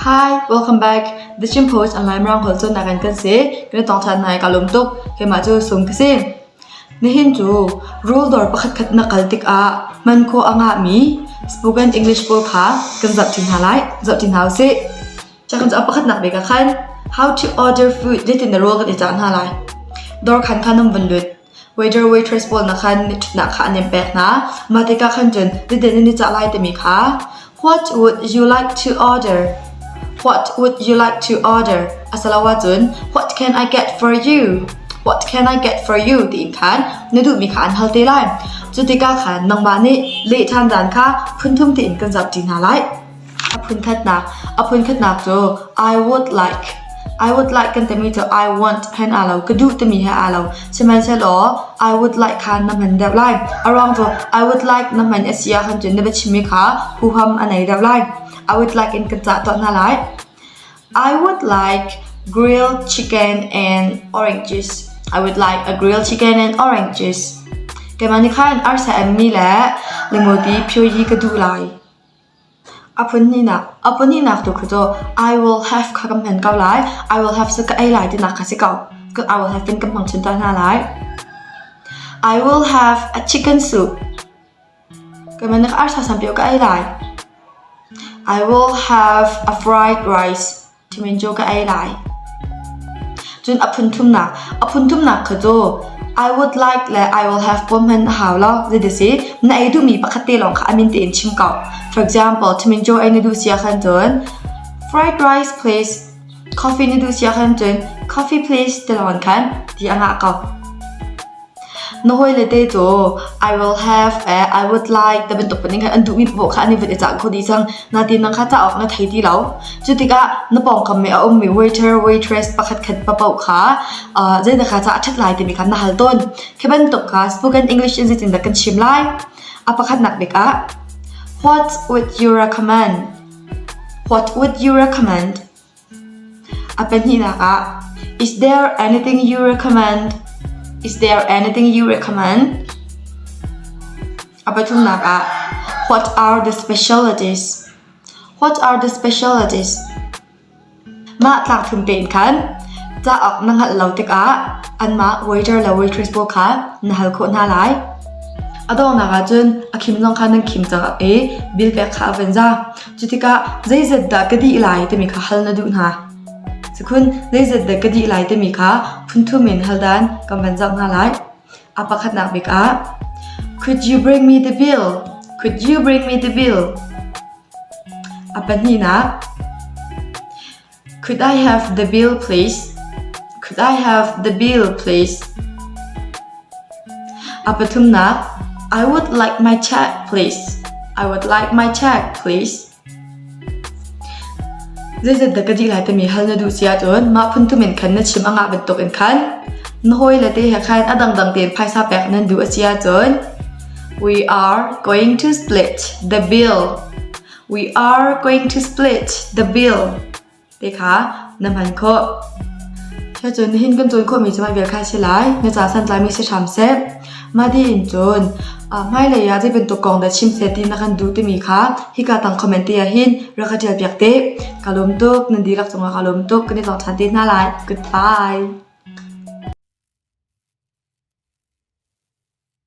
Hi, welcome back. The Chin Post online ramkhel cun nakan kan si. Kan tong than nai ka lum tuk. Keimah cu sum ka si. Nihin cu rule dawr pakhat khat na kal tik ah man ko anga mi spoken English pawl kha kan zap chin hna lai. Zap chin hau si. Cakhan cu a pakhatnak bik ah khan How to order food zeitin dah ruah kan i cah hna lai. Dawr khan khan an vun lut. Waiter waitress pawl nak khan ṭhatnak kha an in pek hna. Mah tikah khan cun zetin nan i cah lai timi kha What would you like to order? What would you like to order? Asiloah cun What can I get for you? What can I get for you? tiin khan na duhmi kha an hal te lai. Cu tikah khan nangmah nih leh ṭhan dan kha phun thum tiin kan zapṭi hna lai. A phunkhatnak cu I would like. I would like kan timi cu I want he aa lo, ka duh timi he aa lo. Sihmanhsehlaw I would like kha na hman deuh lai. A ruang cu I would like na hman a si ahcun cun na biachimmi kha huham a nei deuh lai. I would like in kan cah tuah hna lai. I would like grilled chicken and oranges. I would like a grilled chicken and oranges. Keimah nih khan arsa emmi le limoti phioyi ka duh lai. A pahnih tu kha cu I will have kha kan hman ko lai. I will have cu ka ei lai tinak kha si ko. I will have in kan hmang chun ta hna lai. I will have a chicken soup. Keimah na ka arsa sam pio ka ei lai. I will have a fried rice. ṭhimin cu ka ei lai. Cun a phunthumnak a phunthumnak kha cu I would like le I will have tuah hman a hau lo. Zeidasi na ei duhmi pakhat te lawng kha a min tein chim ko. For example, ṭhimin cu ei na duh si ahkhan cun fried rice please, coffee na duh si ahkhan cun coffee please te lawng khan ti a ngah ko. Na hawile te caw I will have eh I would like tibantuk panin khan an duhmi paoh kha an i vun i cah kho dih cang. Natin nang kha cauk na thei ti lo. Cu tikah na pawngkam me a ummi waiter, waitress pakhatkhat papaoh kha uh, zeidah kha cah a ṭhat lai timi kha na hal tawn. Khi bantuk kha spoken English in zeitindah kan chim lai? A pakhatnak bik ah What would you recommend? What would you recommend? A pahnihnak ah Is there anything you recommend? Is there anything you recommend? A pathumnak ah What are the specialties? What are the specialties? Mah tlak phun tein khan cauk na hngalh lo tikah anmah waiter le waitress pawl kha na hal khawh hna lai. A dawnak ahcun a khim zong kha nan khim cang i bill pek kha a van za. Cutikah zeizat dah ka dih lai timi kha hal na duh hna. Cukhun zeizat dah ka dih lai timi kha phunthum in hal dan kan van zoh hna lai. A pakhatnak bik ah Could you bring me the bill? Could you bring me the bill? A pahnihnak Could I have the bill please? Could I have the bill please? A pathumnak I would like my check please. I would like my check please. Zeizat da ka dih lai tami hal na duh si ahcun mah phun tum in khan na chim anga bantuk in khan na hawi le te he khan a dangdang tein phaisa pek nan duh a si ahcun we are going to split the bill. We are going to split the bill te kha na hman khawh. Che cun hin kan cun khawhmi cu mah vial kha si lai. Na ca santlaimi si hram seh. Mah ti in cun hmailei ah zei bantuk kong dah chim seh ti na kan duh timi kha hika tang comment te ah hin rak ka tial piak te. Ka lawm tuk, nan dihlak cungah ka lawm tuk, kan i tong ṭhan te hna lai. Goodbye.